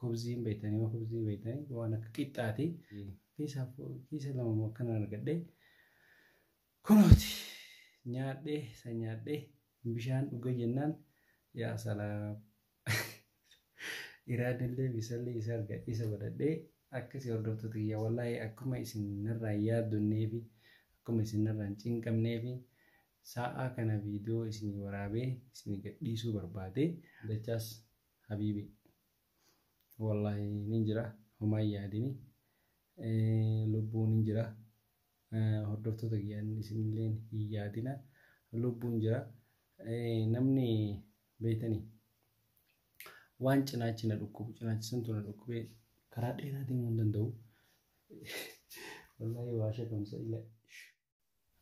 Kubzii hin beektanii waan kubzii beektanii waan akka qixxaati. Kiisa kiisa lama moo akkana argadhee kunooti nyaadhee isa nyaadhee bishaan dhuga jennaan yaa salaam. Iraadillee bisallee isa argadhee isa godhadhee akkasii hordoftoota kiyya wallaahi akkuma isin narraa yaaddonnee fi akkuma isin narraa hin cinqamnee fi sa'aa kana viidiyoo isinii waraabee isinii gadhiisuu barbaade dachaas habibi wallahi nin jira homaa yaadini lubbuu nin jira hordoftoota kiyyaan isinilleen hin yaadina lubbuun jira namni beeytanii waan cinaachi na dhukkubu cinaachi santu na dhukkubee karaa dheeraa deemuu hin danda'u wallahi waa shakamsa ila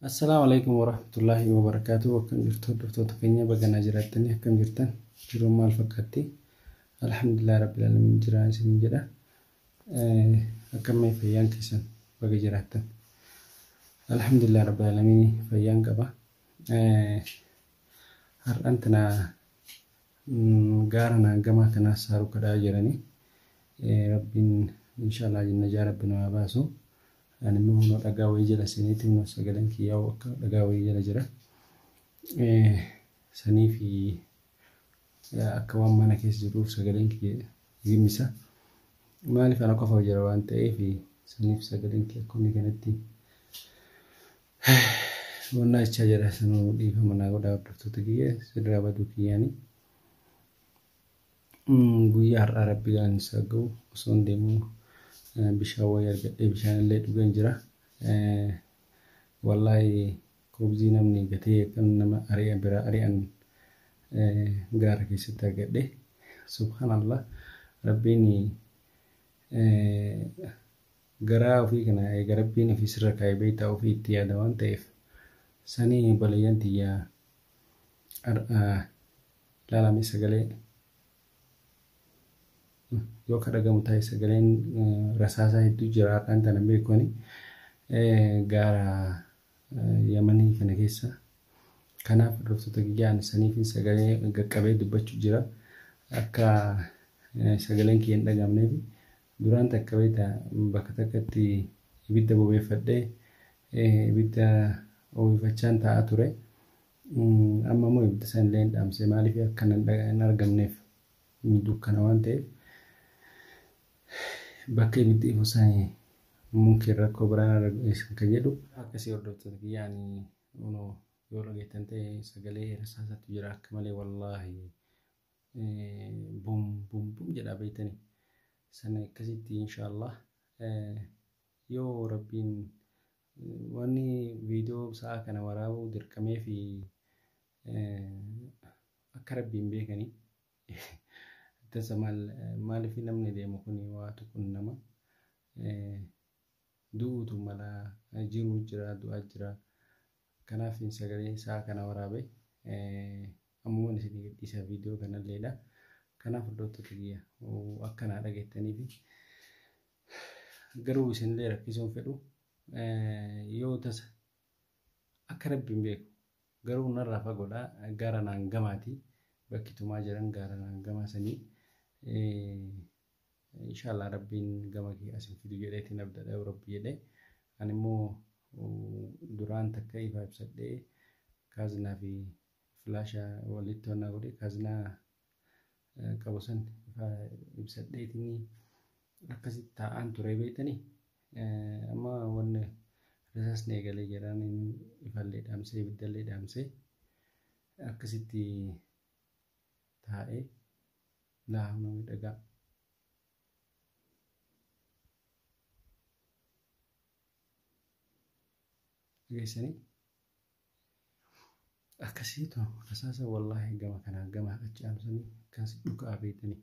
Assalaamu alaikum warahmatullaahi wabarakaatuh akkam jirtu hordoftoota keenya baganaa jiraattanii akkam jirtan jiruun maal fakkaatti alhamdulillah rabbil alamin jiraa isiniin jedha akkamii fayyaan keessan baga jiraattan alhamdulillah rabbil alamin fayyaan qaba har'an tana gaara naangamaa kanaa saaruu kadhaa jiranii rabbiin inshaallah jinnajaa rabbi namaa baasu Ani immoo kunoo dhagaa wayii jala seeneeti kunoo sagaleen kiyyaa akka dhagaa wayii jala jira. Sanii fi akka waan mana keessa jiruuf sagaleen kiyya gimmisa. Maaliif ana qofa jira waan ta'eef saniif sagaleen kiyya akka inni kanatti wannaa jechaa jira sanuu dhiifama naa godhaa hordoftoota kiyya sirraa baduu kiyyaanii. Guyyaa har'aa rabbi galan isaa ga'u osoon deemuu bishaan wayii argadhee bishaan illee dhugan jira. Wallaahi kubzii namni gatee kan nama ari'a biraa ari'an gaara keessatti argadhe. Subhaanallah rabbiin garaa ofii kana eega rabbiin ofii sirra kaa'e beektaa ofii itti yaada waan ta'eef sanii balayyan tiyyaa ilaalame sagalee yoo ka dhagamu ta'e sagaleen rasaasaa hedduu jira har'aan tana beekoni gaara yamanii kana keessa kanaaf hordoftoota kiyyaa ani saniifin sagalee gaqqabee dubbachuu jira akka sagaleen kiyya hin dhagamneef duraan takka beekta bakka takkatti ibidda bobeeffadhee Ibidda oowwifachaan taa'aa ture. Amma immoo ibidda sana illee hin dhaamse. Maaliif akka hin argamneef inni dukkana waan ta'eef. Bakka ibiddi ifu sana mumkin rakkoo biraan irra geessan kan jedhu. Akkasii hordoftoota kiyyaa ani kunoo yoo dhageettan ta'e sagalee hirsaasatu jira akka malee wallaahi bum bum bum jedhaa beektanii. Sana akkasitti inshaallah. Yoo rabbiin wanni video sa'a kana waraabuu dirqamee fi akka rabbiin beekani tasa maal maaliif namni deemu kun waa tuqun nama du'uutu mala jiruu jira du'aa jira kanaaf sagalee sa'a kana waraabe ammuman isin gadhiisa video kanalleedha kanaaf hordoftoota kiyya akkanaa dhageettanii fi garuu isinillee rakkisuun fedhu yoo tasa akka rabbiin beeku garuu narraa fagoodha gaara naan gamaati bakki tumaa jiran gaara naan gamaa sanii inshaallah rabbiin gama kee asin fidu jedheetiin abdadha yoo rabbi jedhe ani immoo duraan takka ifa ibsadhee kaaznaa fi filaasha walitti honnaa godhe kaaznaa qabu san ibsadheetinii akkasitti taa'aan ture beektanii amma wanni risaasni eegalee jedhaan ifallee dhaamsee ibiddallee dhaamsee akkasitti taa'ee laafna miidhagaa. Geessanii Akkasii too rasaasa wallaahi gama kanaa gama achi aanusanii akkas dhukaa beektanii.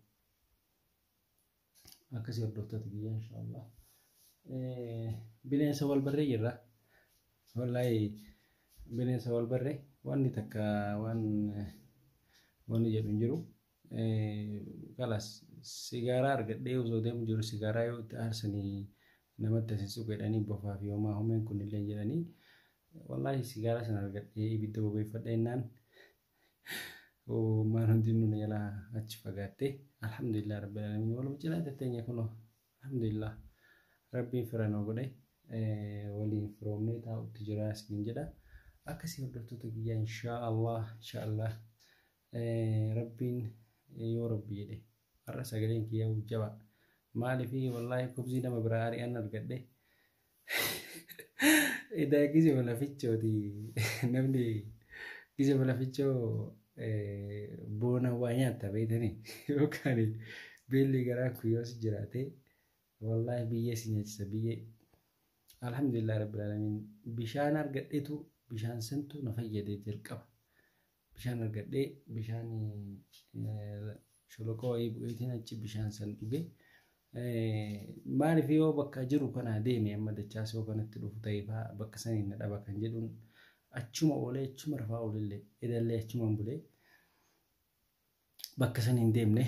Akkasii hordoftoota biyya inshaallah. Bineensa wal barree jirra. Wallaahi bineensa wal barree wanni takka waan wanni jedhu hin jiru. Kalas sigaaraa argadhee osoo deemu jiru sigaaraa yoo itti aarsanii namatti asisuu jedhanii bofaa fi homaa homeen kun illee jedhanii wallaahi sigaaraa sana argadhee ibidda bobeeffadha jennaan maan hundinuu na jalaa achi fagaatte alhamdulillah rabbil alamin waluma cinaa tetteenya kunoo alhamdulillah rabbiin fira nuu godhe waliin firoomnee taa'utti jira isiniin jedha akkasii hordoftoota kiyyaa inshaa allah inshaa allah Rabbiin yoo rabbi jedhe har'a sagaleen kiyyaa jabaa maalifi wallaahi kubzii nama biraa ari'an argadhe edaa gise balafichooti namni gise balafichoo boona waa nyaatta beektanii yookaan beelli garaa kuyyoos jiraate wallaahi biyyee si nyaachisa biyyee alhamdulillah rabbil alamin bishaan argadhetu bishaan santu na fayyade jalqaba Bishaan argadhee bishaan sholoqoo wayii bu'eetiin achi bishaan san dhuge. Maaliif yoo bakka jiru kanaa deeme amma dachaas yoo kanatti dhufu ta'ee fa'aa bakka saniin na dhaba kan jedhuun achuma oolee achuma rafaa oolillee edallee achumaan bulee. bakka san hin deemne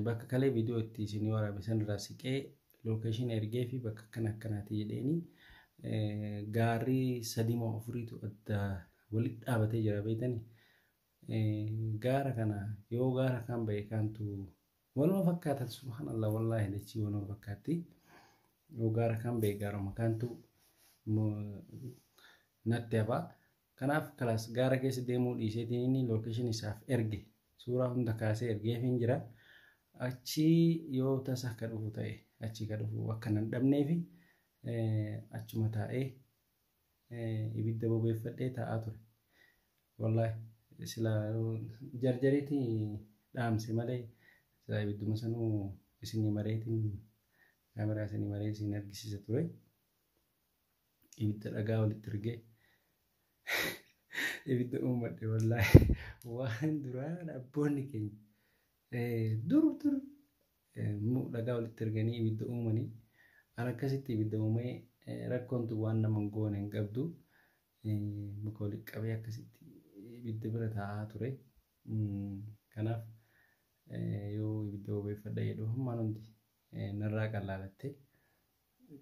bakka kalee viidiyoo itti isinii waraabe san irraa siqee lookeeshin ergee fi bakka akkana akkanaati jedheeni gaarri sadii moo afuriitu adda walitti dhaabatee jira beektani gaara kana yoo gaara kaan ba'e kaantu waluma fakkaatan subhaanallah wallaahi dachii waluma fakkaatti yoo gaara kaan ba'e gaaruma kaantu natti hafaa Kanaaf class gaara keessa deemuu dhiiseetiin inni location isaaf erge suuraa hunda kaasee ergeefiin jira. Achii yoo tasa akka dhufu ta'e achii ka dhufu akka nan dhabneefi achuma taa'ee ibidda bobeeffadhee taa'aa ture. Wallaahi sila jarjariiti dhaamse malee sila ibidduma sanuu isinii mareetiin kaameraa isinii maree isin argisiisa ture. ibidda dhagaa walitti rigee ibidda uummadhe wallaahi waan duraan abboonni keenya dur dur dhagaa walitti riganii ibidda uumanii an akkasitti ibidda uumee rakkoontu waan nama hin goone hin qabdu muka walitti qabee akkasitti ibidda bira taa'aa ture kanaaf yoo ibidda bobeeffadha jedhu hammaan hundi narraa qallaalatte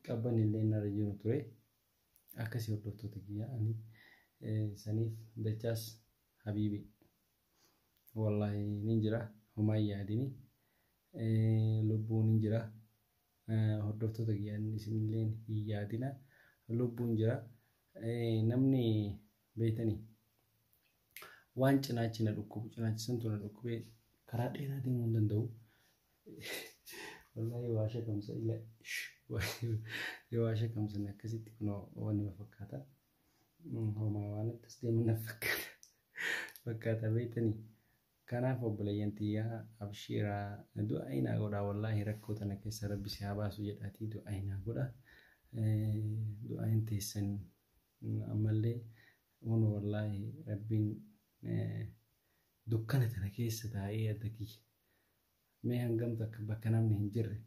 qabban illee narra jiru ture akkasii hordoftoota kiyya ani saniif dachaas habiibi wallahi nin jira homaa yaadini lubbuun hin jira hordoftoota kiyya isinillee hin yaadina lubbuun jira namni beeytanii waan cinaachi na dhukkubu cinaachi santu na dhukkubee karaa dheeraa deemuu hin danda'u. Wallaahi waa shakamsa ila yoo waa shakamsan akkasitti kunoo waan nama fakkaata. Homaa waan akkas deemu na fakkaata. Fakkaata beektanii. Kanaaf obboleeyyan tiyyaa abshiiraa du'a inaa godhaa wallaahi rakkoo tana keessa rabbi si haa baasu jedhaatii du'a inaa godhaa. Du'a hin teessan ammallee Uun wallaahi rabbiin dukkana tana keessa taa'ee adda kiyya mee hangam takka bakka namni hin jirre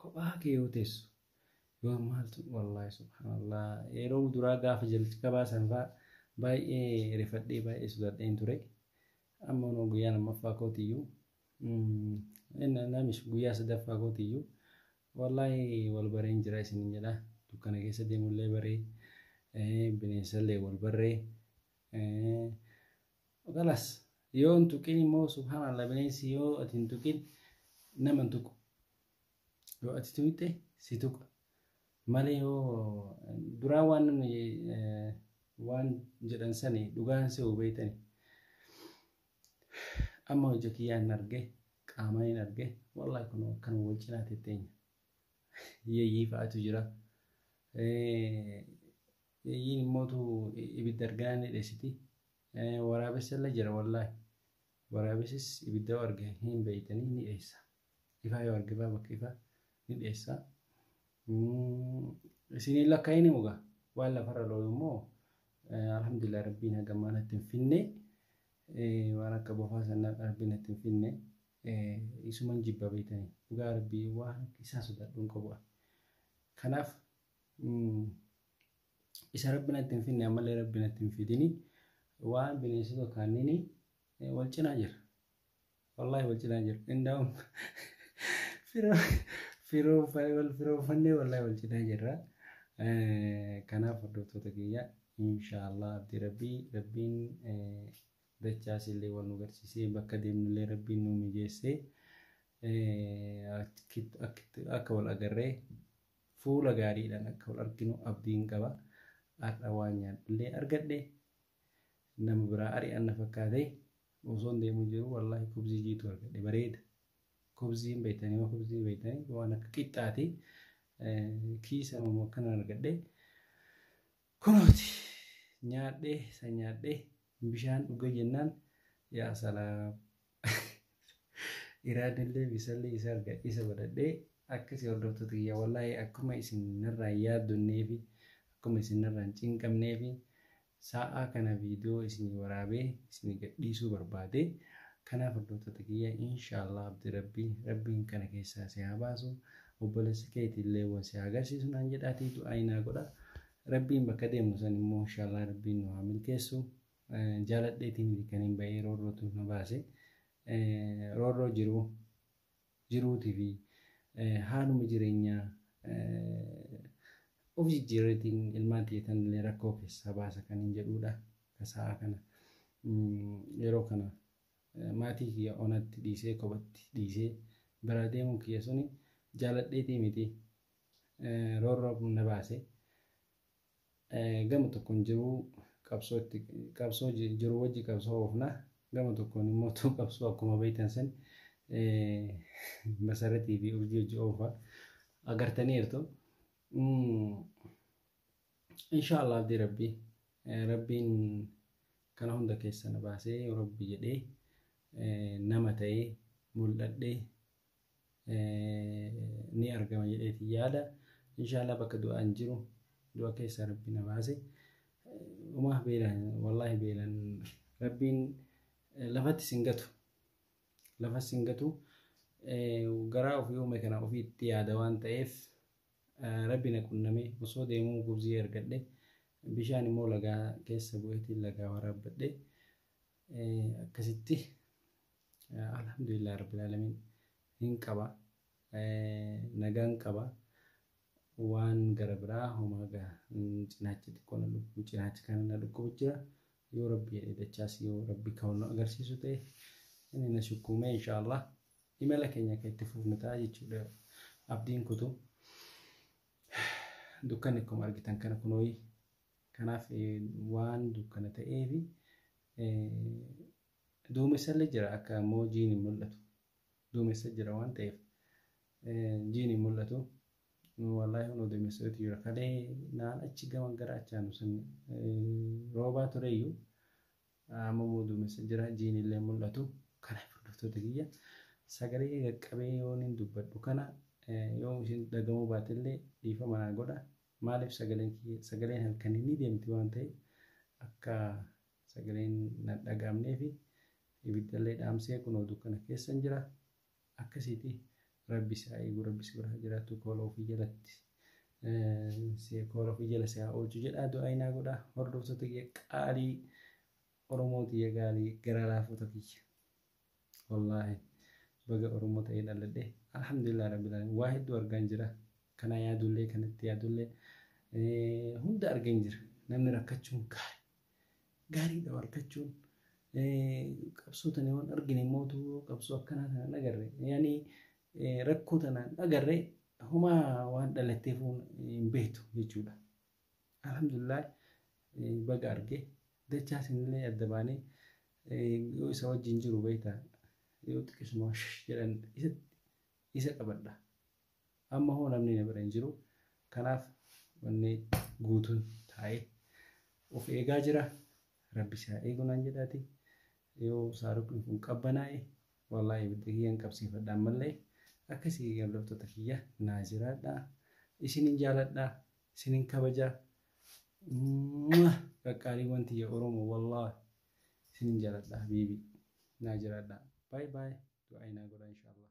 kophaa kee yoo teessu yoo maaltu wallaahi subhaanallah yeroo duraa gaafa jalqabaa san faa baay'ee rifadhee baay'ee sodaadheen ture amma unoo guyyaa lammaffaa kootiyyuu namish guyyaa sadaffaa kootiyyuu Wallaahi wal bareen jira isinin jedha dukkana keessa deemullee baree bineensallee wal barree kalas yoo hin tuqin immoo subhaanallah bineensi yoo ati hin tuqin nama hin tuqu yoo ati tuqxe si tuqa malee yoo duraa waan namni waan jedhan sani dhugaan se'u beektani Amma ija kiyyaan arge qaamaan hin arge wallahi kun akkan wal cinaa tetteenya. Yeeyyii fa'aatu jira. Yeeyyiin immootu ibidda argaa ni dheessiti. Waraabessa illee jira wallahi. Waraabessis ibidda arge hin beeytanii ni dheessa. ifaa yoo argifaa bakka ifaa ni dheessa. Isiniin lakkaa'ini mugaa waan lafarra looyu immoo alhamdulillah rabbiin haga ammaa natti hin finne waan akka bofaa sana rabbiin natti hin finne isuman jibba beektanii dhugaa rabbii waan isaa sodaadhu hin qabu. Kanaaf isa rabbi natti hin finne ammallee rabbi natti hin fidini waan bineensota kaanniini wal cinaa jira. Wallahi wal cinaa jiru. Indaa'uun firoofannee wallahi wal cinaa jirra. Kanaaf hordoftoota kiyya inshaallah abdii rabbii rabbiin dachaas illee wal nu garsiisee bakka deemnullee rabbiin nu mijeessee akka wal agarree fuula gaariidhaan akka wal arginu abdiin qaba. Har'a waan nyaadhullee argadhe nama biraa ari'anna fakkaatee. Osoon deemu jiru wallaahi kubzii jiitu argadhe bareeda. Kubzii hin beektanii waan kubzii hin beektanii waan akka qixxaati. Kiisa mamoo akkana argadhe. Kunooti nyaadhe san nyaadhe bishaan dhuga jennaan yaa salaam. Iraadillee bisallee isa argadhe isa godhadhee akkasii hordoftoota kiyya wallaahi akkuma isin narraa hin yaaddonneefi akkuma isin narraa hin cinqamneefi Sa'aa kana video isinii waraabe isinii gadhiisuu barbaade kanaaf hordoftoota kiyya inshallah abdi rabbi rabbiin kana keessaa si haa baasu obbolessa keeti illee wan si haa agarsiisu naan jedhaati du'aayi naa godha rabbiin bakka deemnu san immoo inshallah rabbiin nu haa milkeessu jaaladheetii miti kaniin ba'ee roorrootu na baase roorroo jiru jiruutii fi haaluma jireenyaa of jijjiirreetiin ilmaan tiyya tanallee rakkoo keessaa baasa kan hin jedhuudha. Ka sa'a kana yeroo kana maatii kiyya onatti dhiisee kophatti dhiisee biraa deemuun kiyya suni jaaladheetii miti roorroo na baase gama tokkoon jiruu qabsoo itti qabsoo jiruu wajji qabsoo oofna gama tokkoon immoo tuu qabsoo akkuma beektan san masaratii fi urjii wajji oofa agartaniirtu insha Allah abdii rabbii rabbiin kana hunda keessa na baasee rabbi jedhee nama ta'ee mul'adhee ni argama jedheeti yaada inshaallah bakka du'aan jiru du'a keessaa rabbi na baase umaa beelan wallaahi beelan rabbiin lafatti sin gatu lafa sin gatu garaa ofii uume kana ofiitti yaada waan ta'eef rabbi na qunname osoo deemuu gubzii argadhe bishaan immoo lagaa keessa bu'eetiin lagaa waraabbadhe akkasitti Alhamdulillah Rabbil Alamin hin qaba nagaan qaba waan gara biraa homaa gaa cinaachi xiqqoo na dhukkubu cinaachi kana na dhukkubu jira yoo rabbi jedhee dachaas yoo rabbi kan nu agarsiisu ta'e inni na sukkuumee inshaallah imala keenya akka itti fufnu ta'a jechuudha abdiin kutu dukkanni akkuma argitan kana kunooyi kanaaf waan dukkana ta'eefi Duumessallee jira akka ammoo jiin hin mul'atu. Duumessa jira waan ta'eef jiin hin mul'atu. Wallaahi hunoo duumessatu jira. Kalee naan achi gama gara achaanu sun roobaa tureyyuu amma immoo duumessa jira jiin illee hin mul'atu. Kanaaf hordoftoota kiyya sagalee kee qaqqabee yoon hin dubbadhu kana yoom isin dhagamuu baatellee dhiifama naa godha. Maaliif sagaleen kiyya sagaleen halkanii ni deemti waan ta'eef akka Sagaleen nan dhaga'amneefi ibiddallee dhaamsee kunoo dukkana keessan jira. Akkasiiti rabbi si haa eegu rabbi si bira haa jiraatu koola ofii jalatti si koola ofii jala si haa oolchu jedhaa du'aayi naa godha hordoftoota kiyya qaalii Oromoo tiyya gaalii garaa laafota kiyya. Wallaahi baga Oromoo ta'ee dhaladhe alhamdulillah rabbil alamin waa hedduu argaan jira kana yaadullee kanatti yaadullee hunda argeen jira namni rakkachuun gaarii. gaariidha argachuun. Qabsoo tana waan argine mootu qabsoo akkanaa tana hin agarre. Yaani rakkoo tana hin agarre homaa waan dhalatteef hin beektu jechuudha. Alhamdulillah baga arge dachaa isinillee adda baanee yoo isa wajjin jiru beektaa yoo xiqqisuma jedhan isa qabadha. Amma hoo namni na bira hin jiru. Kanaaf wanni guutuun taa'ee of eegaa jira. Rabbi si haa eegu naan jedhaati. Yoo saaruqni kun qabbanaa'e wallaahi ibidda kiyyan qabsiifadha ammallee. Akkasii hordoftoota kiyya naa jiraadha. Isinin jaaladha. Isinin kabaja. Mwah! Qaqqaaliiwwan tiyya Oromoo wallaahi isinin jaaladha habiibii. Naa jiraadha. Baay baay. Du'aayi naa godha inshaallah.